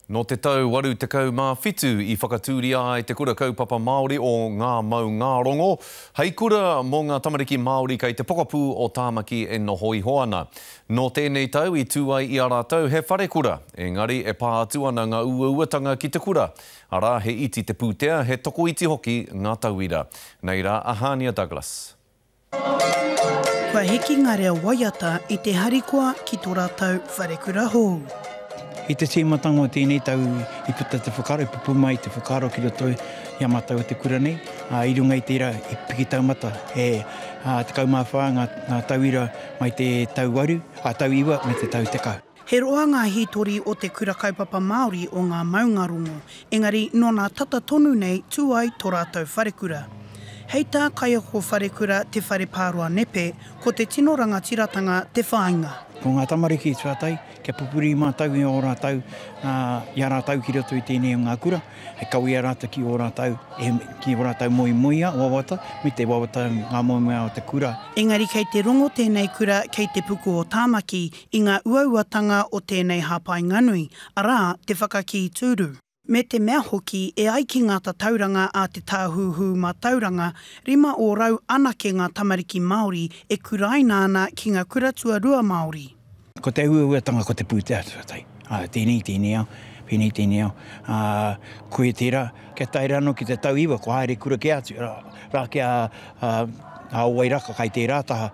Nō te tau 87 i whakatūria ai te Kura Kaupapa Māori o Ngā Maungārongo hei kura mō ngā tamariki Māori kei te pokapū o Tāmaki e noho iho ana. Nō tēnei tau i tū ai i a rātou he wharekura, engari e pā atu ana ngā uauatanga ki te kura, arā, he iti te pūtea, he tokoiti hoki ngā tauira. Nei rā a Hania Douglas. Kua hiki ngā reo waiata i te harikoa ki tō rātou wharekura hou. I te tīmatanga o tēnei tau i puta te whakaaro, i pupū mai te whakaaro ki roto i a mātou o te kura nei. I runga i tērā, i piki taumata e 14 ngā tauira mai te tau iwa me te tau tekau. He roa ngā hītori o te Kura Kaupapa Māori o ngā maungarongo, engari nōnā tata tonu nei tū ai tō rātou wharekura. Hei tā Kaiako Wharekura Te Whareparoa Nepe, ko te tino rangatiratanga te whāinga. Ko ngā tamariki tuatahi, kia pupuri mātou i ō rātou, i a rātou ki roto i tēnei o ngā kura, hei kawea rātou ki ō rātou, ki ō rātou moemoeā wawata, me te wawata ngā moemoeā o te kura. Engari kei te rongo tēnei kura kei Te Puku o Tāmaki, i ngā uauatanga o tēnei hāpainganui, arā, te whakakī tūru, me te mea hoki e ai ki ngā tatauranga a Te Tāhuhu Mātauranga, rima ōrau anake ngā tamariki Māori e kuraina ana ki ngā kura tuarua Māori. Ko te uauatanga ko te pūtea tuatahi, ā, tēnei i tēnei ao, pēnei i tēnei ao, ā, koia tērā. Kia tae rā anō ki te tau iwa, kua haere kura kē atu rā ki a Wairaka kai tērā taha,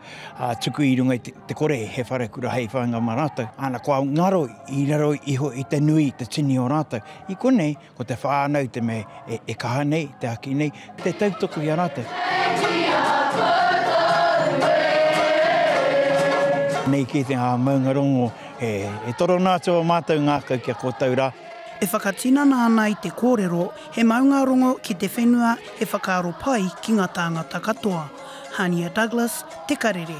tuku i runga i te kore he wharekura hei whāinga mā rātou, ana kua ngaro i raro iho i te nui i te tini o rātou. I konei, ko te whānau te mea e kaha nei, te haki nei, te tautoko i a rātou. Nei kē te ngā maungarongo e torona atu a mātou ngākau ki a kōtou rā. E whakatinana ana i te kōrero, he maunga rongo ki te whenua he whakaaro pai ki ngā tāngata katoa. Hania Douglas, Te Karere.